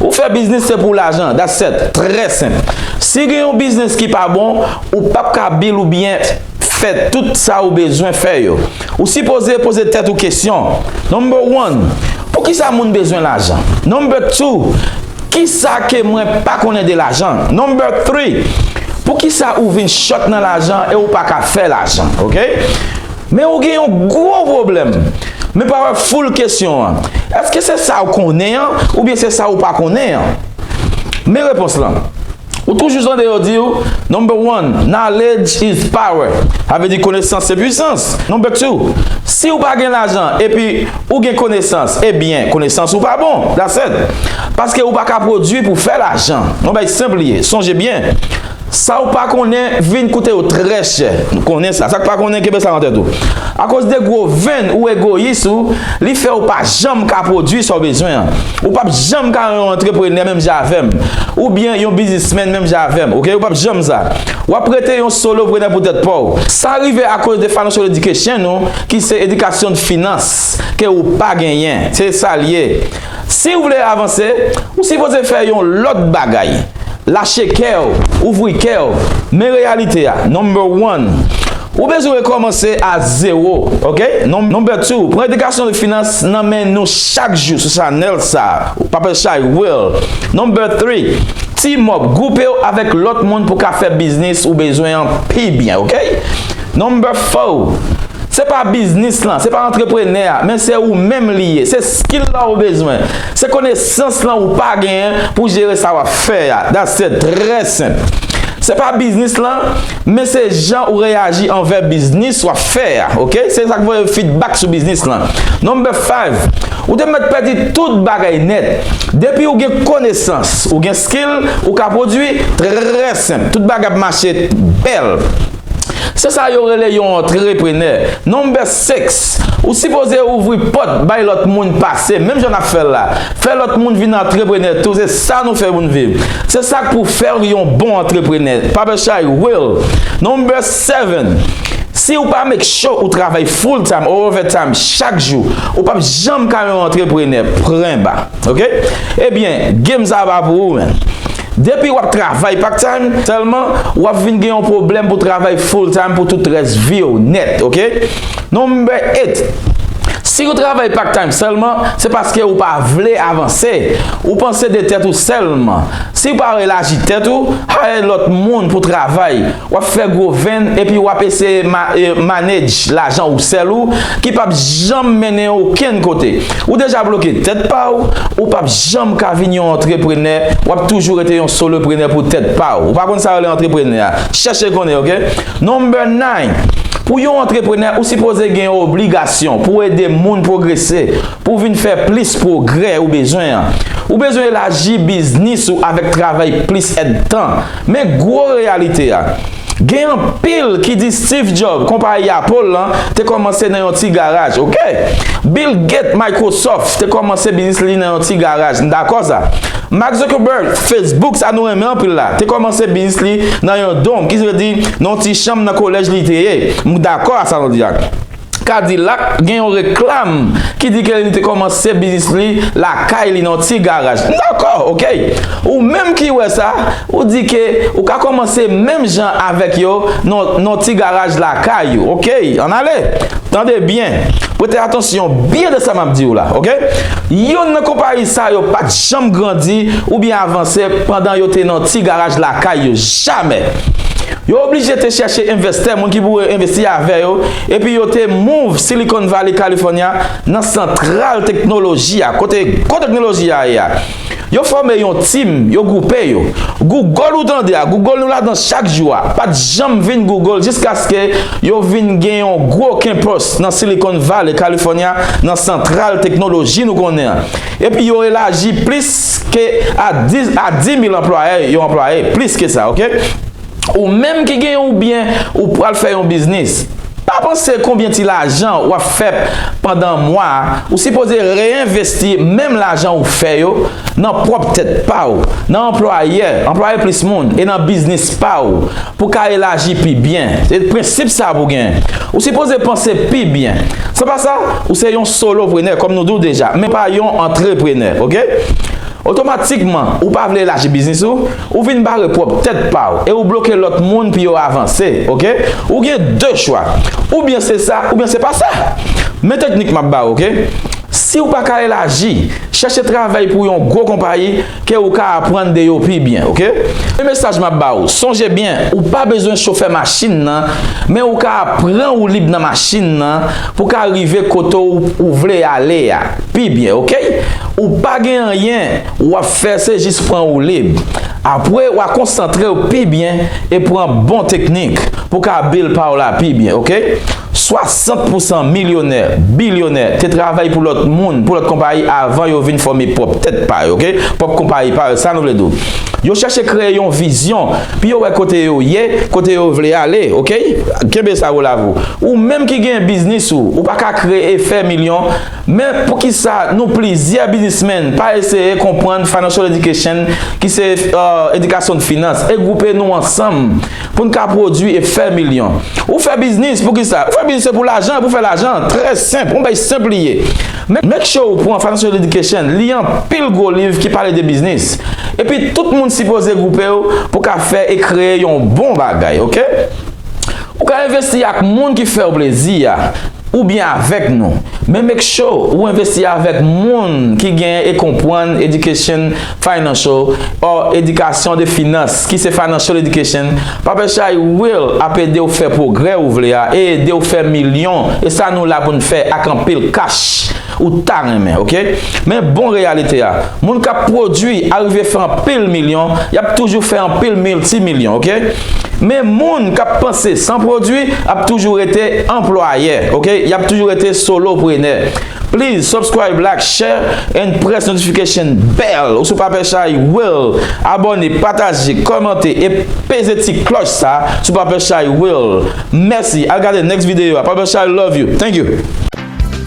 Ou fè biznis se pou lajan, that's set, trè senp. Si gen yon biznis ki pa bon, ou pap ka bil ou byen fè tout sa ou bezwen fè yo. Ou sipoze poze tèt ou kesyon, Number one, Poukisa moun bezwen lajan? Number two, Kisa ke mwen pa konnen de lajan? Number three, Poukisa ou vin chòt nan lajan e ou pa ka fè lajan? Ok. Men ou gen yon gwo pwoblèm. Men pa wè full kesyon an. Èske se sa ou konnen an oubyen se sa ou pa konnen an? Men repons lan. Ou toujou tande yo di ou, Number one, Knowledge is power. Sa vle di konesans se pwisans. Number two, Si ou pa gen lajan epi ou gen konesans, ebyen konesans ou pa bon. That's it. Paske ou pa ka pwodui pou fè lajan. Yon bagay senp li ye. Sonje byen. Sa ou pa konnen vin koute ou trè chè. Nou konnen sa. Sa k pa konnen kenbe sa nan tèt ou. Akoz de gwo venn ou egoyis ou, li fè ou pa janm ka pwodui sa ou bezwen an. Ou pap janm ka yon antreprenè menm jan avè m. Oubyen yon biznismèn menm jan avè m. Oke ou pap janm sa. W ap rete yon soloprenè pou tèt pa w. Sa rive akoz de financial education ou ki se edikasyon de finans ke ou pa genyen. Se sa l ye. Siw vle avanse, ou sipoze fè yon lòt bagay. Lache kèw, ouvri kèw, men reyalite a, number one. Ou bezwen rekòmanse a zewo, ok. Number two, pran edikasyon de finans nan men nou chak jou sou chanèl sa, Papel Chay Will. Number three, team up, gwoupew avèk lòt moun pou ka fè biznis ou bezwen an pi byen, ok. Number four, Se pa biznis lan, se pa antreprenè a, men se ou menm li ye. Se skill la ou bezwen. Se konesans lan ou pa genyen pou jere sa wap fè a. That's it. Trè senp. Se pa biznis lan, men se jan ou reyaji anvè biznis wap fè a. Ok? Se sak voye feedback sou biznis lan. Number five, Ou te mèt pèdi tout bagay nèt. Depi ou gen konesans, ou gen skill, ou ka pwodwi. Trè senp. Tout bagay ap mache bèl. Se sa yo rele yon antreprenè. Number 6, Ou sipoze ouvri pòt bay lòt moun pase menm jan nap fèl la. Fè lòt moun vin antreprenè tou se sa nou fè moun viv. Se sak pou fèw yon bon antreprenè. Paperchay Will, Number 7, Siw pa make sure ou travay full time or over time chak jou, ou pap janm ka yon antreprenè. Prenba. Ok. Ebyen, game sa pa pou ou menm. Depi wap travay part time selman wap vin gen yon pwoblem pou travay full time pou tout res viw net ok number 8 Si ou travay part time selman se paske ou pa vle avanse ou panse de tet ou selman siw pa elaji tet ou hire lot moun pou travay Wap fè gwo venn epi wap eseye manage lajan ou sèl ou ki pap janm mennen okenn kote. Ou deja bloke tèt paw, ou pap janm ka vin yon antreprenè, wap toujou rete yon soloprenè pou tèt paw. Ou pa konn sa yo rele antreprenè a, chèche konnen ok. Number 9, Pou yon antreprenè ou sipoze gen obligasyon pou ede moun pwogrese, pou vin fè plis pwogrè ou bezwen an. Ou bezwen elaji biznis ou avèk travay plis èdtan. Men gwo reyalite a, Gen anpil ki di Steve Jobs, konpayi Apple lan, te kòmanse nan yon ti garaj. Ok! Bill Gates, Microsoft, te kòmanse biznis li nan yon ti garaj. N dakò sa. Mark Zuckerberg, Facebook, sa nou renmen anpil la, te kòmanse biznis li nan yon dòm, ki vle di nan yon ti chanm nan kolèj li te ye. M dakò a sa nou di a. Kadilak gen yon reklam ki di ke li te kòmanse biznis li lakay li nan yon ti garaj. M dakò ok! Ou menm ki wè sa, ou di ke ou ka kòmanse menm jan avèk yo nan yon ti garaj lakay ou. Ok! Ann ale! Tande byen! Prete atansyon byen de sa m ap di w la. Ok! Youn nan konpayi sa yo pa t janm grandi oubyen avanse pandan yo te nan ti garaj lakay yo. Jamè! Yo oblije te chèche envestè, moun ki pou envesti avè yo, epi yo te move Silicon Valley, California, nan santral teknoloji a, kote gwo teknoloji a ye a. Yo fòme yon team, yo gwoupe yo. Google ou tande a, Google nou ladan chak jou a, pat janm vin Google jiskaske yo vin gen yon gwo campus nan Silicon Valley, California, nan santral teknoloji nou konnen an. Epi yo elaji plis ke a 10 mil anplwayè yo anplwaye, plis ke sa, ok. Ou menm ki gen yon byen ou pral fè yon biznis, pa panse konbyen ti lajan wap fèp pandan mwa a, ou sipoze reyenvesti menm lajan ou fè yo nan pwòp tèt pa ou, nan anplwayè, anplwaye plis moun e nan biznis pa ou pou ka elaji pi byen. Se prensip sa pou gen. Ou sipoze panse pi byen. San pa sa, ou se yon solo prenè kòm nou di w deja, men pa yon antre prenè ok. Otomatikman ou pa vle elaji biznis ou, Ou vin bare pwòp tèt pa w e ou bloke lòt moun pou yo avanse, ok? Ou gen 2 chwa, oubyen se sa oubyen se pa sa. Men teknik m ap ba w, ok? Si w pa ka elaji, chèche travay pou yon gwo konpayi ke ou ka aprann de yo pi byen, ok? Men mesaj m ap ba w, sonje byen ou pa bezwen chofè machin nan, men ou ka apran woulib nan machin nan pou w ka rive kote w ou vle ale a pi byen, ok? Ou pa gen anyen Wap fè se jis pran woulib. Apre wa konsantrew pi byen e pran bon teknik pou ka bil paw la pi byen ok. 60 pousan milyonè, bilyonè te travay pou lòt moun, pou lòt konpayi avan yo vin fòme pwòp tèt pa yo ok. Pwòp konpayi pa yo sa nou vle di w. Yo chèche kreye yon vizyon pi yo wè kote yo ye, kote yo vle ale ok. Kenbe sa Wolavou. Ou menm ki gen biznis ou, ou pa ka kreye fè milyon Men poukisa nou plizyè biznismen pa eseye konprann financial education ki se edikasyon finans e gwoupe nou ansanm pou n ka pwodwi e fè milyon. Ou fè biznis poukisa? Ou fè biznis se pou lajan e pou fè lajan. Trè senp, yon bgy senp li ye. Make sure ou pran financial education, li anpil gwo liv ki pale de biznis. Epi tout moun sipoze gwoupe w pou ka fè e kreye yon bon bagay ok. Ou ka envesti ak moun ki fèw plezi a oubyen avèk nou, men make sure ou envesti avèk moun ki gen e konpwann education financial or edikasyon de finans ki se financial education pape chay will ap edew fè pwogrè ou vle a e edew fè milyon e sa nou la poun fè ak anpil cash Ou ta renmen ok. Men bon reyalite a. Moun kap pwodwi arive fè anpil milyon, yap toujou fè anpil milti milyon ok. Men moun kap panse san pwodwi ap toujou rete anplwayè ok. Yap toujou rete solo prenè. Please subscribe like share and press notification bell ou sou papè chay will abone pataje komante e peze ti kloch sa sou papè chay will mèsi al gade next video a papè chay love you thank you.